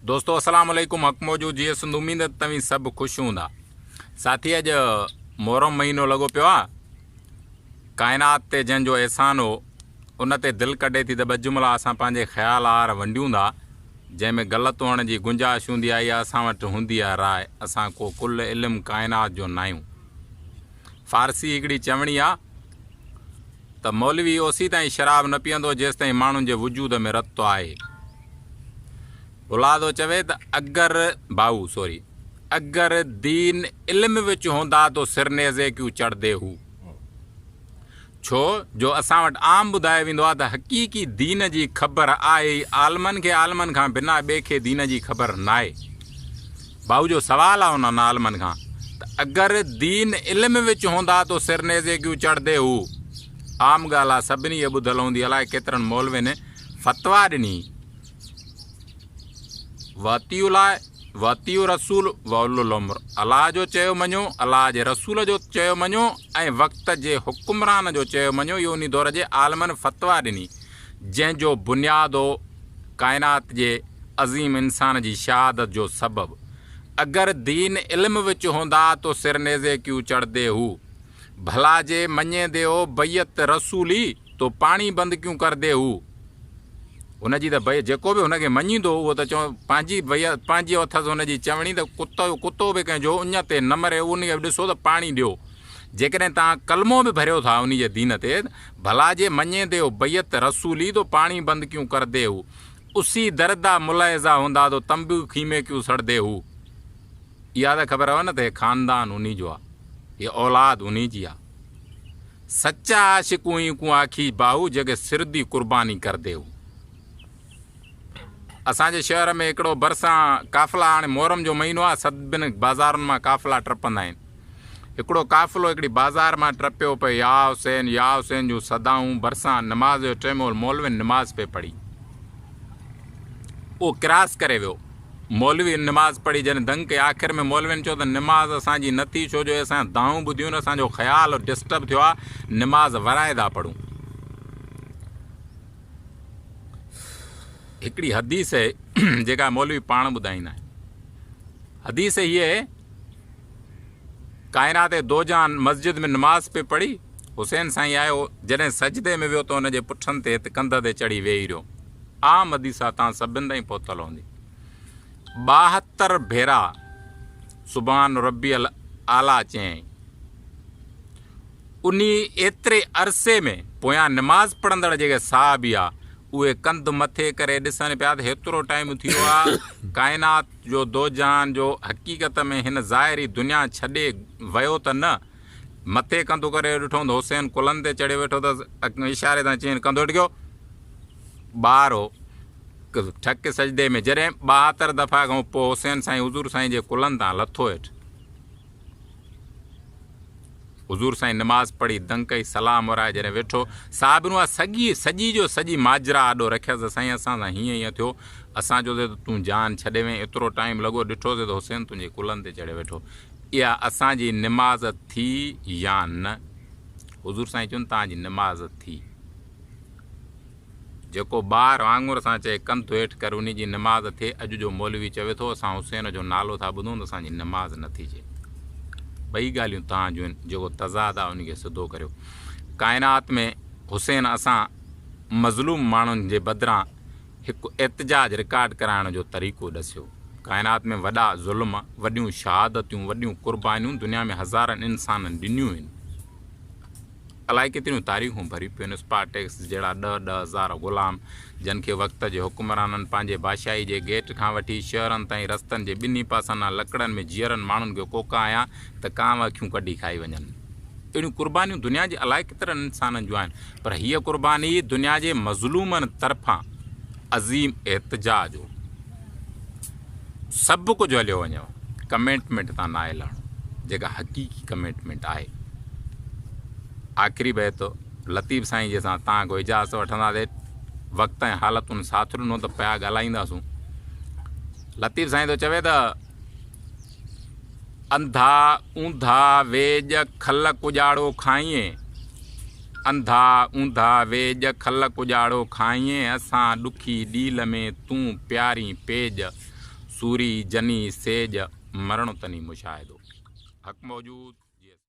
دوستو السلام عليڪم حق موجود جيئي سنڌ اميد ته توهين سڀ خوش هوندا ساٿي اڄ محرم مهينو لڳو پيو آهي ڪائنات تي جنهن جو احسان هو ان تي دل ڪڍي ٿي ته ٻه جملا اسان پنهنجي خيال آهر ونڊيون ٿا جنهن ۾ غلط هئڻ جي گنجائش هوندي آهي يا اسان وٽ هوندي آهي راء اسان ڪو ڪل علم ڪائنات جو ناهيون فارسي هڪڙي چوڻي آهي ته مولوي اوسيتائين شراب نه پيئندو جيستائين ماڻهن جي وجود ۾ رت آهي. بلادو چوي ته اگر، بائو سوري، اگر دين علم وچ هوندا تو سر نيزي ڪيون چڙهدي هو. ڇو جو اسان وٽ عام ٻڌايو ويندو آهي ته حقيقي دين جي خبر آهي ئي عالمن کي عالمن کان بنا ٻئي کي دين جي خبر ناهي. ڀائو جو سوال آ انهن عالمن کان ته اگر دين علم وچ هوندا تو سر نيزي ڪيون چڙهدي هو عام ڳالهه آ سڀني هي ٻڌل هوندي الائي ڪيترن مولوين فتويٰ ڏني واطيعوا الله واطيعوا الرسول واولو الامر الله جو چيو مڃو الله جي رسول جو چيو مڃو ۽ وقت جي حڪمران جو چيو مڃو اهو انهي دور جي عالمن فتويٰ ڏني جنهن جو بنياد هو ڪائنات جي عظيم انسان جي شهادت جو سبب اگر دين علم وچ هوندا تو سر نيزي ڪيو چڙهدي هو ڀلا جي مڃيندي هو بيعت رسولي تو پاڻي بند ڪيون ڪردي هو هن جي ته بيعت جيڪو به هن کي مڃيندو هو اهو ته چون پنهنجي بيعت پنهنجي اٿس هن جي چوڻي ته ڪتو ڪتو به ڪنهن جو اڃ تي نه مري انهي کي به ڏسو ته پاڻي ڏيو جيڪڏهن توهان ڪلمو به ڀريو ٿا انهي جي دين تي، ڀلا جي مڃين ديو بيعت رسولي تو پاڻي بند ڪيون ڪر دي هو، اسي دردا ملعزا هوندا تو تم به خيمي ڪيون سڙ دي هو. اها ته خبر هو نه ته هي خاندان انهي جو آ، هي اولاد انهي جي آ. سچا عاشق اوهين ڪون آکيج باهو جيڪي سر دي قرباني ڪر دي هو. اسان جي شهر ۾ هڪڙو برسان قافلا هاڻي محرم جو مهينو آ سڀن بازارن مان قافلا ٽپندا آهن. هڪڙو قافلو هڪڙي بازار مان ٽپيو پئي يا حسين يا حسين جون صدائون ڀرسان نماز جو ٽيم هو مولوين نماز پئي پڙهي اهو ڪراس ڪري ويو مولوين نماز پڙهي جڏهن دنگ ڪئي آخر ۾ مولوين چيو ته نماز اسان جي نه ٿي ڇو جو اسان جا دانهون ٻڌيون نه اسان جو خيال ڊسٽرب ٿيو آ نماز ورائيدا پڙهون هڪڙي حديث جيڪا مولوي پاڻ ٻڌائيندا آهن حديث هي ڪائنات دوجان مسجد ۾ نماز پئي پڙهي، حسين سائين آيو، جڏهن سجدي ۾ ويو ته ان جي پٺن تي هت ڪنڌ تي چڙهي ويهي رهيو. آ مديسا تان سڀن تائين پهتل هوندي ٻاهتر ڀيرا سبحان ربي الاعليٰ چيائين. انهي ايتري عرصي ۾ پويان نماز پڙهندڙ جيڪي صحابي ها، اهي ڪنڌ مٿي ڪري ڏسن پيا ته هيترو ٽائيم ٿي ويو آ، ڪائنات جو دوجهان جو حقيقت ۾ هن ظاهري دنيا ڇڏي ويو ته نه؟ مٿي ڪنڌ ڪري ڏٺوم ته حسين ڪلهن تي چڙهي ويٺو اٿس. اشاري سان چيائين، ڪنڌ هيٺ ڪيو. ٻار هو ٺڪ سجدي ۾. جڏهن ٻاهتر دفعا کان پوء حسين سائين حضور سائين جي ڪلهن تان لٿو هيٺ. حضور سائين نماز پڙهي دنگ ڪئي سلام ورائي جڏهن ويٺو صاحبن اها سڄي سڄي جو سڄي ماجرا آڏو رکيس ته سائين اسان سان هيئن هيئن ٿيو اسان چيو سي ته تون جان ڇڏي وئين ايترو ٽائيم لڳو ڏٺو سي ته حسين تنهنجي ڪلهن تي چڙهي ويٺو اها اسان جي نماز ٿي يا نه حضور سائين چون تان جي نماز ٿي جيڪو ٻار وانگر سان چئي ڪنڌ هيٺ ڪر انهي جي نماز ٿئي اڄ جو مولوي چوي ٿو اسان حسين جو نالو ٿا ٻڌون ته اسان جي نماز نه ٿي چئي ٻئي ڳالهيون تان جون آهن جيڪو تضاد آهي انهي کي سڌو ڪريو ڪائنات ۾ حسين اسان مظلوم ماڻهن جي بدران هڪ احتجاج رڪارڊ ڪرائڻ جو طريقو ڏسيو ڪائنات ۾ وڏا ظلم وڏيون شهادتيون وڏيون قربانيون دنيا ۾ هزارن انسانن ڏنيون آهن. الائي ڪيتريون تاريخون ڀري پيون اسپارٽيڪس جهڙا ڏهه ڏهه هزار غلام جن کي وقت جي حڪمرانن پنهنجي بادشاهي جي گيٽ کان وٺي شهرن تائين رستن جي ٻنهي پاسن آن لڪڙن ۾ جيئرن ماڻهن کي ڪوڪايا ته ڪانء اکيون ڪڍي کائي وڃن. اهڙيون قربانيون دنيا جي الائي ڪيترن انسانن جون آهن پر هيء قرباني دنيا جي مظلومن طرفان. عظيم احتجاج هو سڀ ڪجهه هليو وڃيو ڪميٽمينٽ تان ناهي لهڻو جيڪا حقيقي ڪميٽمينٽ آهي آخري بيت لطيف سائين جي سان تان کو اجازت وٺندا دي وقت ۽ حالتن ساٿ ڏنو ته پيا ڳالهائينداسون لطيف سائين ٿو چوي ته انڌا اونڌا ويڄ کل ڪڄاڙو کائين، انڌا اونڌا ويڄ کل ڪڄاڙو کائين، اسان ڏکي ڏيل ۾ تون پيارين پيڄ، سوري جني سيڄ، مرڻو تني مشاهدو حق موجود.